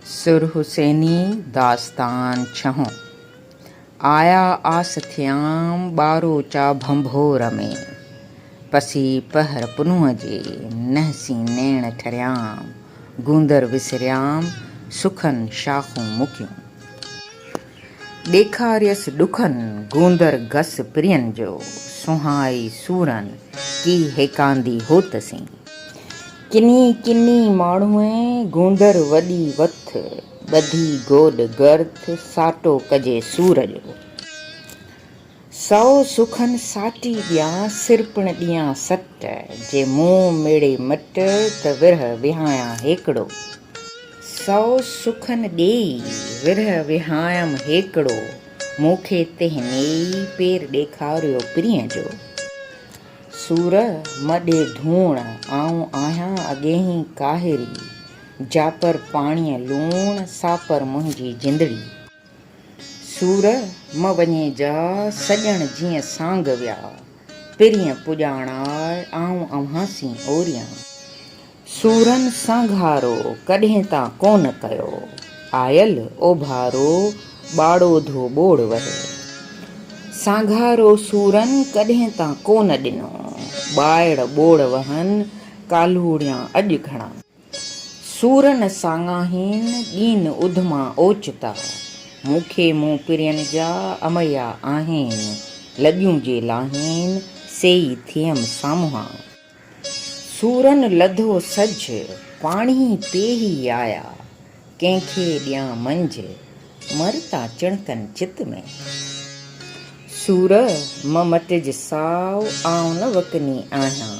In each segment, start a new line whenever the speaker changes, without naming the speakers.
سر حسيني داستان ڇهون. آيا آس ٿيام ٻاروچا ڀنڀور ۾. پسي پهر پنهون جي، نهسين نيڻ ٺريام. گوندر وسريام، سخن شاخون مڪيون. ڏيکاريس ڏکن گوندر گس پرين جو، سونهائي سورن ڪي هيڪاندي هوت سين. ڪني ڪني ماڻهوء گوندر وڏي وٿ، ٻڌي گوڏ گرٿ ساٽو ڪجي سور جو. سؤ سخن ساٽي ڏيان، سر پڻ ڏيان سٽ. جي مون ميڙي مٽ، ته ورهه وهايان هيڪڙو. سؤ سخن ڏيئي، ورهه وهايم هيڪڙو. مون کي تنهن نيئي، پير ڏيکاريو پرينء جو. سور م ڏي ڌوڻ، آئون آهيان اڳينهين ڪاهري. جاپر پاڻيء لوڻ، ساپر منهنجي جندڙي. سور م وڃي جا سڄڻ جيئن سانگ ويا. پرينء پڄاڻاء آئون اوهان سين اوريان. سورن سانگهارو ڪڏهن تان ڪونه ڪيو. آيل اوڀارو ٻاڙو ڌو ٻوڙ وهي. سانگهارو سورن ڪڏهن تان ڪونه ڏنو. ٻائڙ ٻوڙ وهن ڪالهوڙيان اڄ گهڻا. سورن ساڱاهين ڏين اڌما اوچتا. مون کي مون پرين جا اميا آهين. لڄون جي لاهين سيئي ٿيم سامهان. سورن لڌو سج پاڻهي پيهي آيا. ڪنهن کي ڏيان منجهه مرتا چڻڪن چت ۾. سور م مٽج ساء آئون نه وڪني آهيان.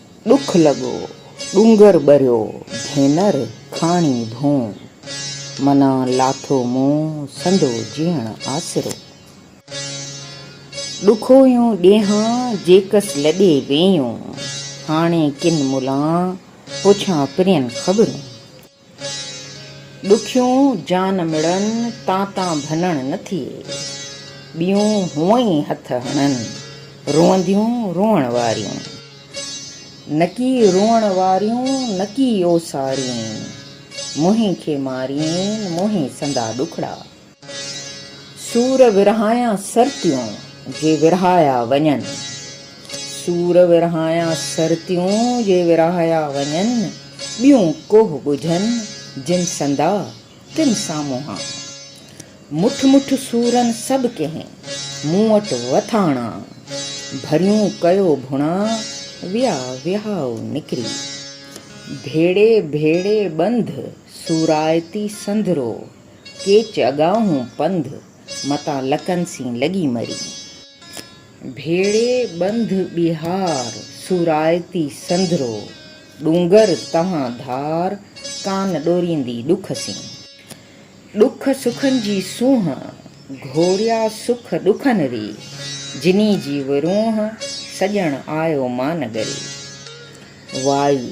ڏک لڳو ڏونگر ٻريو ڀينر ڪھاڻي ڌون. منا لاٿو مون سندو جيئڻ آسرو. ڏکويون ڏينھان جيڪس لڏي ويئون. ھاڻي ڪن ملان پڇان پرين خبرون. ڏکيون جان مڙن، تان تان ڀنڻ نه ٿئي. ٻيون هونء ئي هٿ هڻن، روئنديون روئڻ واريون. نڪي روئڻ واريون، نڪي اوسارين. منهين کي مارين، منهين سندا ڏکڙا. سور ورهايان سرتيون، جي ورهايا وڃن. سور ورهايان سرتيون، جي ورهايا وڃن. ٻيون ڪوهه ڳجهن، جن سندا، تن سان منهان. مٺ مٺ سورن سڀ ڪنهن، مون وٽ وٿاڻا. ڀريون ڪيو ڀڻا، ويا وهائو نڪري. ڀيڙي ڀيڙي ٻنڌ، سورائتي سنڌرو. ڪيچ اڳاهون پنڌ، متان لڪن سين لڳي مري. ڀيڙي ٻنڌ ٻيهار، سورائتي سنڌرو، ڏونگر تهان ڌار، ڪان ڏوريندي ڏک سين. ڏک سکن جي سونهن، گهوريا سک ڏکن ري، جني جي ورونهه، سڄڻ آيو مان نگري. وائي.